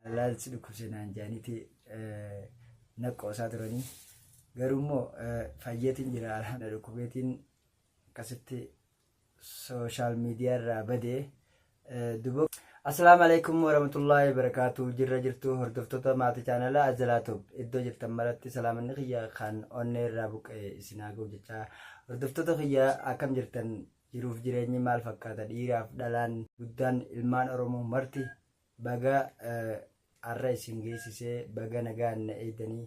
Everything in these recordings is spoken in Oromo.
laal si dhukkubse naan jaaniiti na qoosaa turanii garuu immoo fayyeetiin jira alhamdulillah dhukkubeetiin akkasitti sooshaal miidiyaa irraa badee duboo. Assalaamu alaikum warahmatullahi wabarakatuh jirra jirtu hordoftoota maatii chaanala Azalaatoob iddoo jirtan maratti salaamanni kiyya kan onnee irraa buqqa'e isin haa ga'u jechaa hordoftoota kiyya akkam jirtan jiruuf jireenyi maal fakkaata dhiiraaf dhalaan guddaan ilmaan Oromoo marti Baga har'a isin geessisee baga nagaan na eegdanii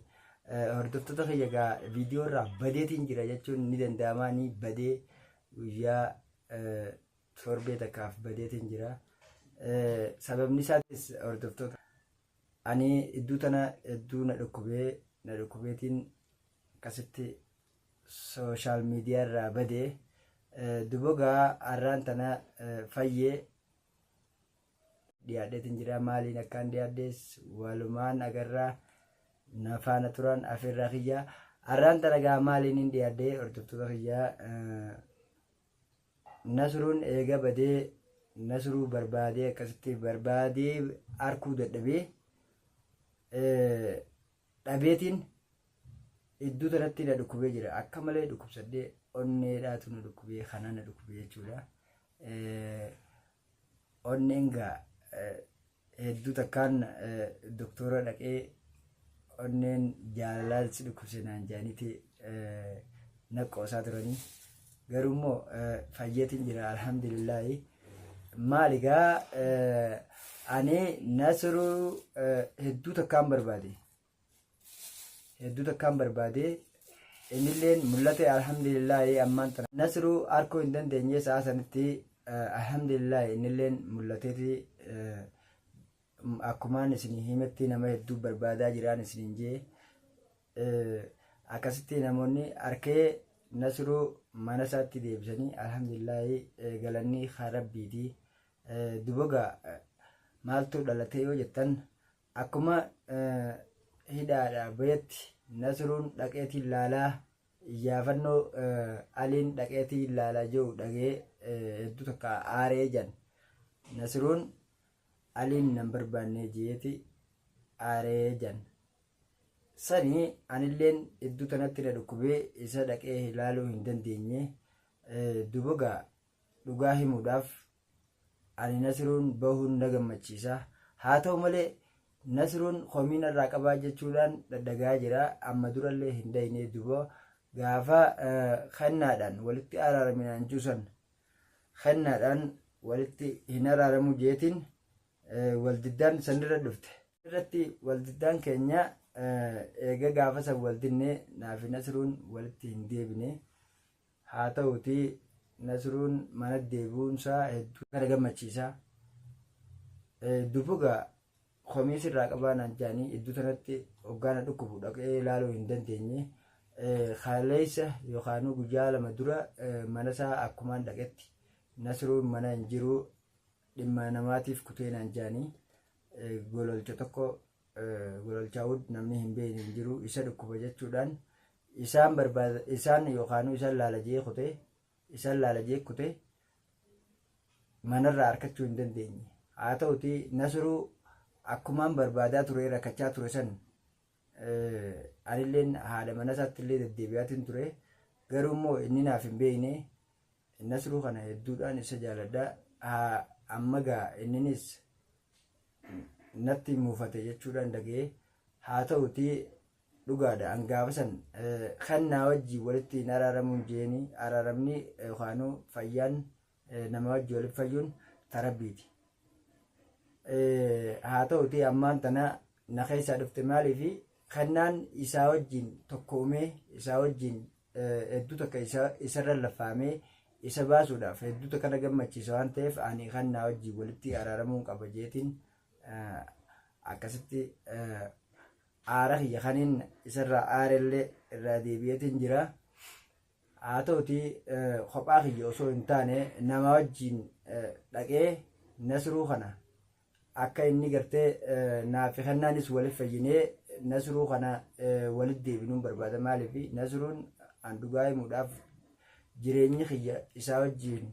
hordoftoota kiyya egaa viidiyoo irraa badeetiin jira jechuun ni danda'ama ni badee guyyaa torbee takkaaf badeetiin jira. Sababni isaatis hordoftoota ani iddoo tana iddoo na dhukkubee na dhukkubeetiin akkasitti sooshaal miidiyaa irraa badee dubogaa har'aan tana fayyee dhiyaadheetin jira maaliin akkaan dhiyaadhees walumaan agarraa na faana turan afeerraa kiyyaa arraan tana gaa maaliin hin dhiyaadhee hordoftoota kiyyaa eh, nasruun eega badee nasruu barbaadee akkasitti barbaadee arkuu dadhabee eh, dhabeetiin iddoo tanatti na dhukkubee jira akka malee dhukkubsadhee onneedhaatu na dhukkubee kanaa na dhukkubee jechuudha. Eh, Onneen gaa hedduu takkaan doktora dhaqee onneen jaalalaa si dhukkubse naan jaaniiti naqqoosaa turanii garuu immoo fayyeetiin jira alhamdulillaahi maali gaa ani nasiruu hedduu takkaan barbaade hedduu takkaan barbaade innilleen mul'ate alhamdulillaahi ammaan tana nasru arkuu hin dandeenye sa'a sanitti alhamdulillaahi innilleen mul'ateeti akkumaan isin himetti nama hedduu barbaadaa jiraan isiniin jee akkasitti namoonni arkee nasru mana isaatti deebisanii alhamdulillaahi galannii kan rabbiiti duboga maaltu dhalatee yoo jettan Akkuma hidhaadhaa bahetti Nasruun dhaqeetiin laalaa iyyaafannoo Aliin dhaqeetiin laalaa jiru dhagee hedduu takka aaree jedhan. Nasruun Aliin nan barbaannee jeeti aaree jedhan. Sani anilleen hedduu tanatti na dhukkubee isa dhaqee ilaaluu hin dandeenye dubogaa Dhugaa himuudhaaf ani Nasiruun bahuun na gammachiisa. Haa ta'u malee Nasiruun komii narraa qabaa jechuudhaan dhadhagaa jira. Amma durallee hin dhayne dubo gaafa kennaadhaan walitti araaraminaan juusan kennaadhaan walitti hin araaramu jeetiin waldiddaan sanirra dhufte. Irratti waldiddaan keenya eega gaafa san waldinnee naafi Nasiruun walitti hin deebine. Haa ta'uutii Nasruun manatti deebi'uun isaa hedduu na gammachiisa. Dubu gaa komii sirraa qabaa naan jedhanii iddoo tanatti hoggaa na dhukkubu dhaqee ilaaluu hin dandeenye. Kaleessa yookaan guyyaa lama dura mana isaa akkumaan dhaqetti Nasruun mana hin jiru dhimma namaatiif kutee naan jedhanii gololcha tokko Gololchaa Wood namni hin beekne hin jiru isa dhukkuba jechuudhaan isaan barbaada isaan yookaanuu isaan laala jee kutee isaan laala jee kutee manarraa arkachuu hin dandeenye haa ta'uti nasruu akkumaan barbaadaa ture rakkachaa ture san anilleen haadha mana isaatti illee deddeebi'aatiin ture garuu immoo inni naaf hin beekne nasruu kana hedduudhaan isa jaaladha ammagaa inninis natti muufate jechuudhaan dhaga'e haa ta'uti dhugaadha an gaafa san kan naa wajjin walitti hin araaramuun jeeni araaramni yookaanuu fayyaan nama wajjin walitti fayyuun tarabbiiti. Haa ta'uti ammaan tana na keessaa dhufte maaliifi kannaan isaa wajjin tokkoomee isaa wajjin hedduu takka isarra laffaamee isa baasuudhaaf hedduu takka na gammachiisa waan ta'eef ani kan naa wajjin walitti araaramuun qaba jeetiin akkasitti aara kiyya kaniin isarraa aarellee irraa deebi'eetiin jira. Haa ta'uti kophaa kiyya osoo hin taane nama wajjin dhaqee nasruu kana akka inni gartee naafi kennaanis walif fayyinee nasruu kana walit deebinuun barbaada maaliif nasruun an dhugaa himuudhaaf jireenyi kiyya isaa wajjiin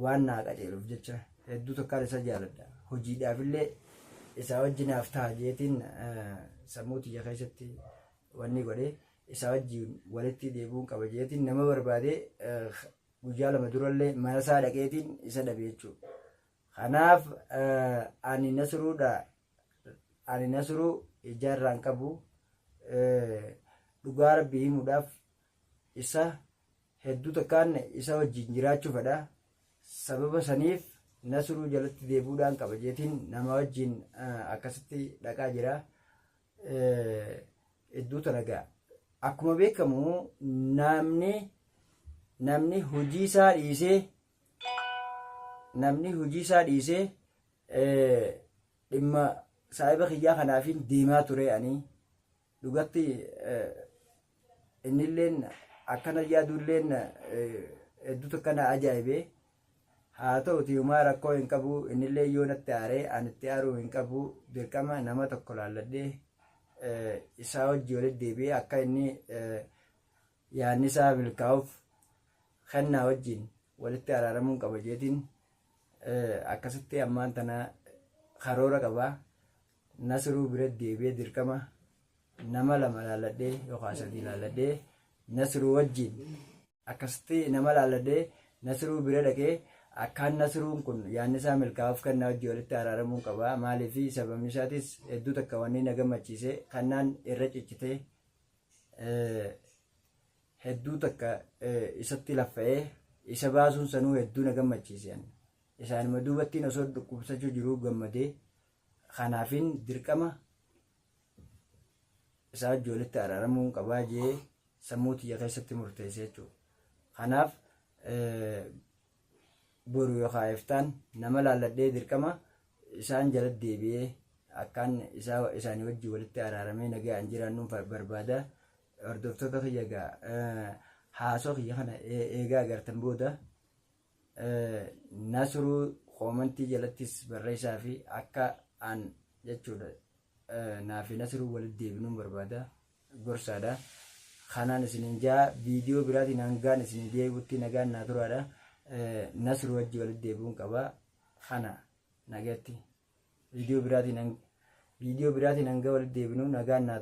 waan naa qajeeluuf jecha hedduu tokkaan isa jaaladha hojiidhaaf illee isaa wajji naaf ta'a jeetiin sammuu tiyya keessatti wanni godhe isaa wajjiin walitti deebi'uun qaba jeetiin nama barbaade guyyaa lama durallee mana isaa dhaqeetiin isa dhabe jechuudha. Kanaaf ani nasruudha ani nasruu ijaarraan qabu dhugaa rabbii himuudhaaf isa hedduu takkaan isa wajjin jiraachuu fedha sababa saniif nasruu jalatti deebuudhaan qaba jeetiin nama wajjin akkasitti dhaqaa jira hedduu tanagaa akkuma beekamu namni namni hojii isaa dhiisee namni hojii isaa dhiisee dhimma saahiba kiyyaa kanaafiin deemaa ture ani dhugatti innilleen akkana yaaduulleen hedduutu akkana ajaa'ibee haa ta'uti humaa rakkoo hin qabu innillee yoo natti aaree ani itti aaruu hin qabu dirqama nama tokko laalladhee isaa hojii walitti deebi'ee akka inni yaadnisaa milkaa'uuf kennaa wajjin walitti araaramuun qaba jeetiin akkasitti ammaan tana karoora qaba nasruu bira deebi'ee dirqama nama lama laalladhee yookaan sadii laalladhee nasruu wajjin akkasitti nama laalladhee nasruu bira dhaqee akkaan nasruun kun yaannisaa milkaa'uuf kennaa wajjin walitti araaramuun qaba maaliif sababni isaatis hedduu takka wanni na gammachiise kannaan irra ciccitee hedduu takka isatti laffa'ee isa baasuun sanuu hedduu na gammachiise isaanuma duubattiin osoo dhukkubsachuu jiruu gammadee kanaafin dirqama isaa ijoolletti araaramuu hin qabaa jee sammuu tiyya keessatti murteesse jechuudha. Kanaaf boru yookaan iftaan nama laalladhee dirqama isaan jala deebi'ee akkaan isaa isaanii wajjin walitti araaramee nagaan jiraannuun fa- barbaada hordoftoota kiyya gaa eh, haasoo kiyya kana ee- eegaa agartan booda eh, nasruu koomantii jalattis barreessaa fi akka aan jechuudha Naafi Nasiruu walitti deebinuun barbaada. Gorsaadha. Kanaan isinin jaa viidiyoo biraatiin hangaan isin deebi'utti nagaan naa turaadha. Nasiruu wajji walitti deebi'uun qaba. Kana nagatti. Viidiyoo biraatiin viidiyoo biraatiin hanga walitti deebinu nagaan naa